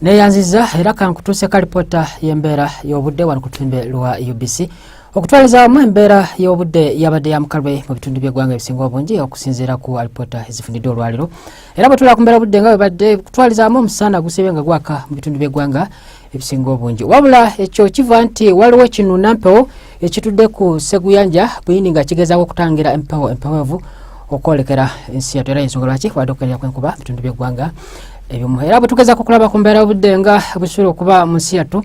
neyanziza era kankutuuseko alipoota y'embeera y'obudde wano ku lutimbe lwa ubc okutwaliza wamu embeera y'obudde yabadde yamukalwe mu bitundu by'eggwanga ebisinga obungi okusinziira ku alipoota ezifunidde olwaliro era bwetula ku mbeera obudde nga webadde kutwaliza wamu omusaana gusibe nga gwaka mu bitundu by'eggwanga ebisinga obungi wabula ekyo kiva nti waliwo ekinuna mpewo ekitudde ku seguyanja buyindi nga kigezaako okutangira empewo empewevu okwolekera ensi yatu era yensonga lwaki wadde okukerera kwenkuba bitundu byeggwanga ebimu era bwetugezaako okulaba ku mbeera obudde nga busuula okuba mu nsi yattu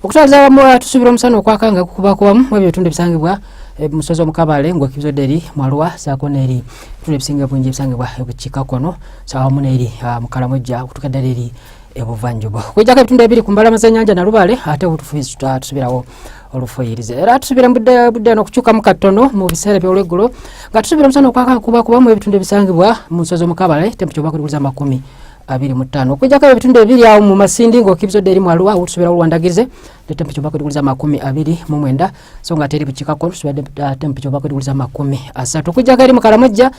okutwaliza awamu tusuubira omusana okwaka nga kukubakubamu mu ebyo bitundu ebisangibwa eh, musozi omukabale ngwekibizodde eri mwaluwa saako neeri ebitundu ebisinga bungi ebisangibwa ebukiika kono saawamu neeri ah, mukalamujja okutukedde eri ebuvanjuba okujjako ebitundu ebiri ku mbalama z'enyanja nalubaale ate obutufuizi tutasubirawo olufuyirize era tusubira budde budde no kukyukamu katono mu biseera by'olweggulo nga tusubira omusana okwaka kuba kuba mu ebitundu ebisangibwa mu nsozi omukabale tempeca oba kulibuza amakumi abiri mu ttaano okujjako ebitundu ebiri awo mu masindi ng'okibizodde eri mu aluwa otusubira olwandagirize ne tempeca oba kulibuza amakumi abiri mu mwenda so nga teri bukikako tusubira tempeca oba kulibuza amakumi asatu okujjako eri mu kalamojja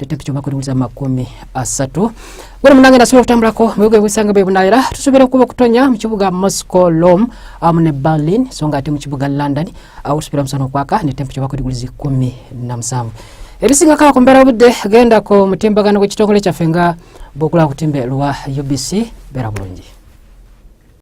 leta kichoma kulingiza makumi asatu gwe munange nasula okutambulako mu bigo ebisanga bwe bunayira tusuubira okuba okutonya mu kibuga moscow lom amu ne berlin so nga ate mu kibuga london awo tusuubira musana okwaka ne tempecha bakuliguliza ikumi na musanvu ebisinga kala ku mbeera obudde genda ku mutimbagano gw'ekitongole kyaffe nga bwokula kutimbe lwa ubc beera bulungi